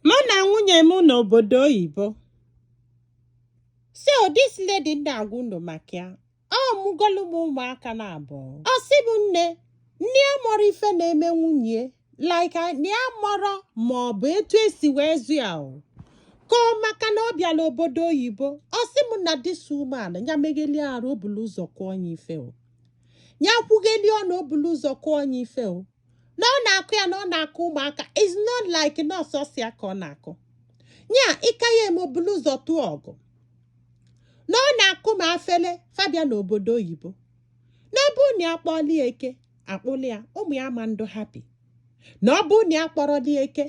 Mụ na nwunye m n'obodo oyibo. So this lady na-agwa unu maka ya. Ọ mụgolu m ụmụaka naabọ. Ọ sị m nne, na ya amarọ ife na-eme nwunye like na ya amarọ ma ọ bụ etu esi wee zụ ya o. Ka ọ maka na ọ bịala obodo oyibo. Ọ sị m na this woman ya megheli arụ o bulu ụzọ kụọ ya ife o. Ya kwugheli ọnụ o bulu ụzọ kụọ ya ife o. na ọ na-akụ ya na ọ na-akụ ụmụaka is not like na ọ sọsọ ya ka ọ na-akụ ya ịka ya eme o bulu ụzọ tụọ ọgụ na ọ na-akụ ma afele fa bịa n'obodo oyibo na ọ bụ na ya kpọọlụ ya eke akpụlụ ya ụmụ ya ma ndị happy na ọ bụ na ya akpọrọlụ ya eke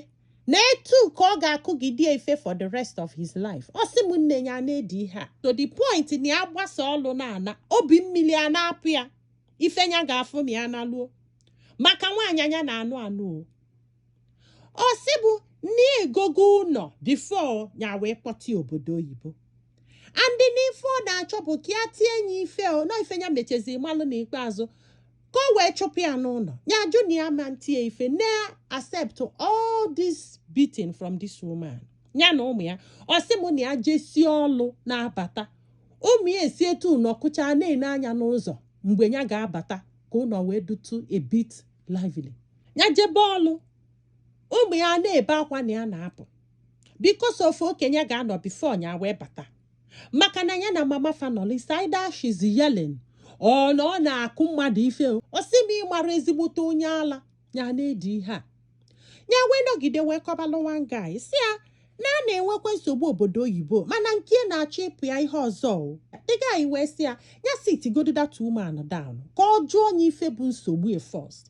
na etu ka ọ ga-akụgide ife for the rest of his life ọ sị m nne ya na-edi ihe a to the point na ya gbasa ọlụ na-ana obi mmiri a na-apụ ya ife nya ga-afụ ma ya naluo maka nwaanyị nya na-anụ anụ o ọ sị mụ na ya egogo ụnọ before ya wee kpọta obodo oyibo and na ife ọ na-achọ bụ ka ya tie nye ife o na ife ya mechezi malụ n'ikpeazụ ka o wee chụpụ ya n'ụnọ ya jụ na ya ma ntie ife na accept all this beating from this woman ya na ụmụ ya ọ sị m na ya jesie ọlụ na-abata ụmụ ya esi etu a nọkọchaa na-ene anya n'ụzọ mgbe ya ga-abata ka ụnọ wee dịtụ a bit lively ya jebe ọlụ ụmụ ya na-ebe akwa na ya na-apụ because of okenye ga-anọ before ya wee bata maka na ya na mama fa nọlụ is either she's yelling or na ọ na-akụ mmadụ ife o ọ sị m ịmara ezigbote onye ala ya na-edi ihe a ya wee nọgide wee kọbalụ one guy sị ya na a na-enwekwa nsogbu obodo oyibo mana nke ya na-achọ ịpụ ya ihe ọzọ the guy wee sị ya ya sit godu that woman down ka ọ jụọ onye ife bụ nsogbu ya first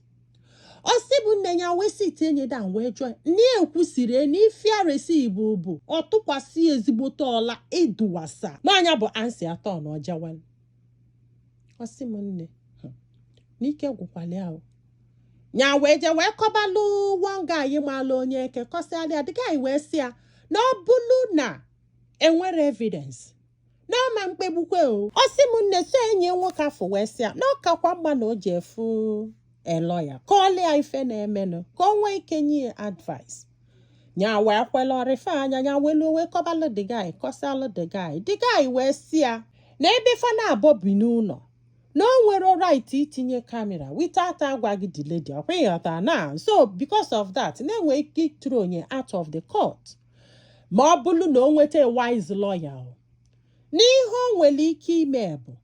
ọ sị mụ nne ya wee sit enye down wee jụọ na ekwusiri na ifiaresi bụ bụ ọ tụkwasị ezigbote ọla ịdụwasa n'anya bụ ansi atọ na ọjawan ọ sị m nne n'ike gwụkwala ya ya wee jee wee kọbalụ one guy malụ onye eke kọsịalụ ya the guy wee sị ya na ọ bụlụ na enwerọ evidence na ọ ma mkpegbukwe o ọ sị m nne so enyi ya nwoke afụ wee sị ya na ọ kakwa mma na o jee fụ a lawyer kọọlụ ya ife na-emenụ ka o nwee ike nye ya advice nya wee kwela o refer nya nya welu wee kọbalụ the guy kọsịalụ the guy the guy wee sị ya na ebe fa naabọ bi n'ụnọ na o nwerọ right itinye kamera without agwaghị the lady ọ kwa ịghọta na so because of that na e nwee ike ịthrow nye out of the court ma ọ bụrụ na o nweta wise lawyer na ihe o nwere ike ime bụ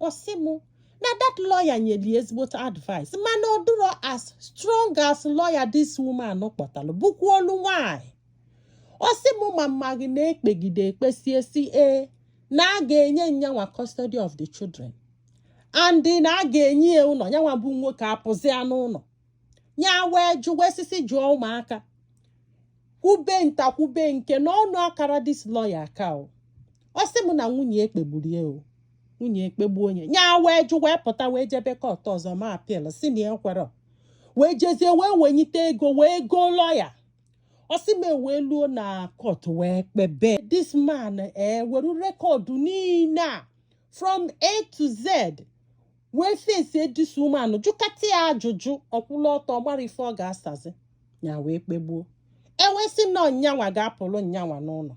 ọ sị m na that lawyer nyere ya ezigbote advice mana ọ dụrọ as strong as lawyer this woman kpọtara bụkwanụ nwanyị ọ sị m ma m maghị na e kpegide e kpesie si ee na a ga-enye nyanwa custody of the children and na a ga-enye ya ụlọ nyanwa bụ nwoke apụzia n'ụlọ ya wee jụ wee si si jụọ ụmụaka kwube nta kwube nke n'ọnụ akara this lawyer aka o ọ sị m na nwunye ekpegburu ya o nwunye ekpegbuo nya ya wee jụ wee pụta wee jebe court ọzọ maa appeal si na ekwere wee jezie wee wenyite ego wee goo lawyer ọ sị m e wee luo na court wee kpebe this man ewere eh, record niile a from a to z wee face this woman jụkata ya ajụjụ ọ kwụlụ ọtọ amara ife ọ ga-asazi ya wee kpegbuo e wee sị na nyanwa ga-apụrụ nyanwa n'ụlọ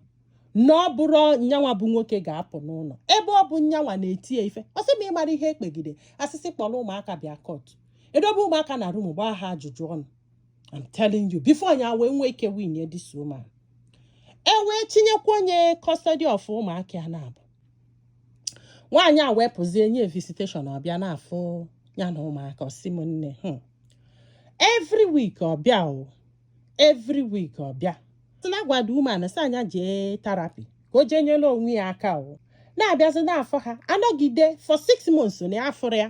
na ọ bụrọ nyanwa bụ nwoke ga-apụ n'ụlọ ebe ọ bụ nyanwa na-eti ya ife ọ sị m ị mara ihe e kpegide a sị sị kpọrọ ụmụaka bịa court e dobe ụmụaka na room gbaa ha ajụjụ ọnụ I'm telling you before nya wee nwee ike win this woman e wee tinyekwuo nya custody of ụmụaka ya naabọ nwaanyị a wee pụzie nye visitation ọ bịa na-afụ ya na ụmụaka ọ sị m nne hmm. every week ọ bịa o every week ọ bịa si na agwa the woman si a nya jee therapy ka o jee nyere onwe ya aka o na-abịazi na-afụ ha anọgide for six months na afụrọ ya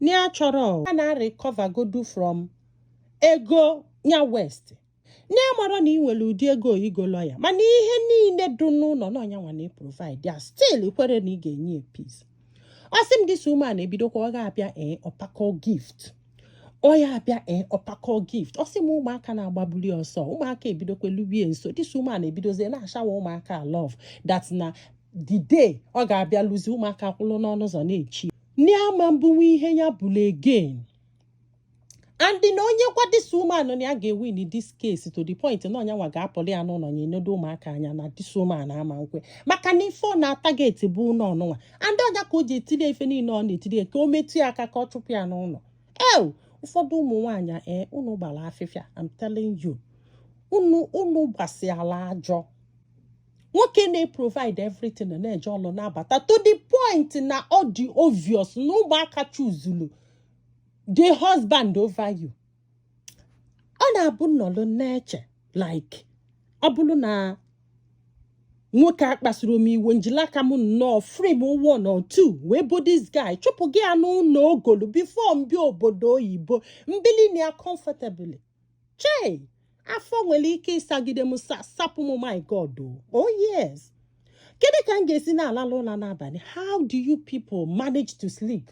na ya chọrọ ya na recover godu from ego nya waste na ya mara na ị nwere ụdị ego igo lawyer mana ihe niile dị n'ụlọ na ọ nyanwa na-eprovide ya still kwere na ị ga-enye ya peace ọ sị m this woman ebidokwa ọ ga-abịa ee ọ pakọọ gift ọ ya-abịa ee ọ pakọọ gift ọ sị m ụmụaka na-agbabuli ọsọ ụmụaka ebidokwa lubie nso this woman ebidozie na-ashower ụmụaka love that na the day ọ ga-abịaluzi ụmụaka kwụrụ n'ọnụ ụzọ na-eche ni ama mbụnwe ihe ya bụla again and na o nyekwa this woman na ya ga-ewin this case to the point na ọ nyanwa ga-apụli ya n'ụlọ ya enedo ụmụaka anya na this woman ama ekwe maka na ife ọ na-atarget bụ ụlọ nụnwa and ọ nya ka o ji etiri ife niile ọ na-etiri ka o metụ ya aka ka ọ chụpụ ya n'ụlọ ew ụfọdụ ụmụ nwaanyị ee eh, unu gbara afịfịa I'm telling you unu unu gbasiala ajọ nwoke na-eprovide everything na-eje ọlụ na-abata to the point na ọ dị obvious na ụmụaka chuzulu the husband over you ọ na-abụ m nọlụ na-eche like ọ bụrụ na nwoke a kpasuru m iwe m jili aka m nnọọ frame one or two wee bo this guy chụpụga ya n'ụlọ o golu before m bịa obodo oyibo m bili na ya comfortably chei afọ nwere ike ịsagide m sapụ m my god o oh yes kedu ka m ga-esi na-alalụ ụla n'abalị how do you people manage to sleep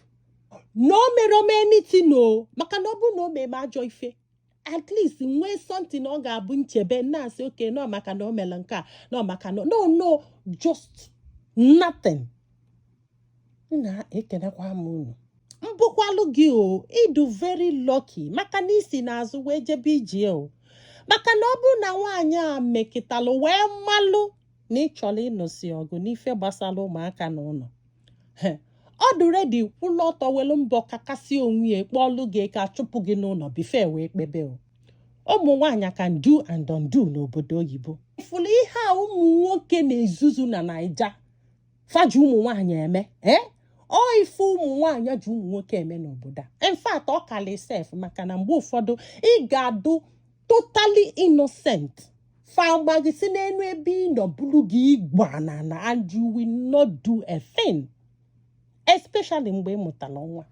na o merọ m anything o maka na ọ bụrụ na o mee m ajọ ife at least nwee something ọ ga-abụ m chebe na-asị okay na ọ maka na o mere nke a na ọ maka na no no just nothing nna ekenekwa m unu mbụkwalụ gị o ị dụ very lucky maka na i si n'azụ wee jebe ije o maka na ọ bụrụ na nwaanyị a mekịtalụ wee malụ na ị chọrọ ịnụsi ọgụ n'ife gbasara ụmụaka na ụnọ ọ dị ready kwụlụ ọtọ welu mbọ kakasịa onwe ya kpọọlụ gị ka a chụpụ gị n'ụnọ before e wee kpebe o ụmụ nwaanyị can do and undo n'obodo oyibo ị fụlụ ihe a ụmụ nwoke na-ezuzu na naija fa ji ụmụ nwaanyị eme ee eh? ọ ife ụmụ nwaanyị ji ụmụ nwoke eme n'obodo a in fact ọ kalị sef maka na mgbe ụfọdụ ị ga-adụ totally innocent fa gbaa gị si n'enu ebe ị nọ bulu gị igba na na and you will not do a thing especially mgbe ị mụtara nwa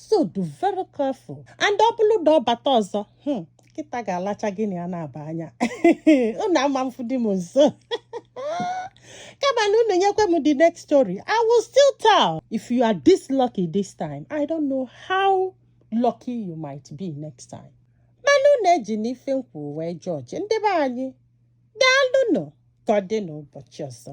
so dụ very careful and ọ bụrụ na ọ bata ọzọ hmm, nkịta ga-alacha gị n'anya na-aba anya unu ama mfụdị m nso kama na unu nyekwe m the next story i will still tell if you are this lucky this time i don't know how lucky you might be next time mana unu ejina ife m kwu wee judge ndị be anyị daalụnụ ka ọ dị n'ụbọchị ọzọ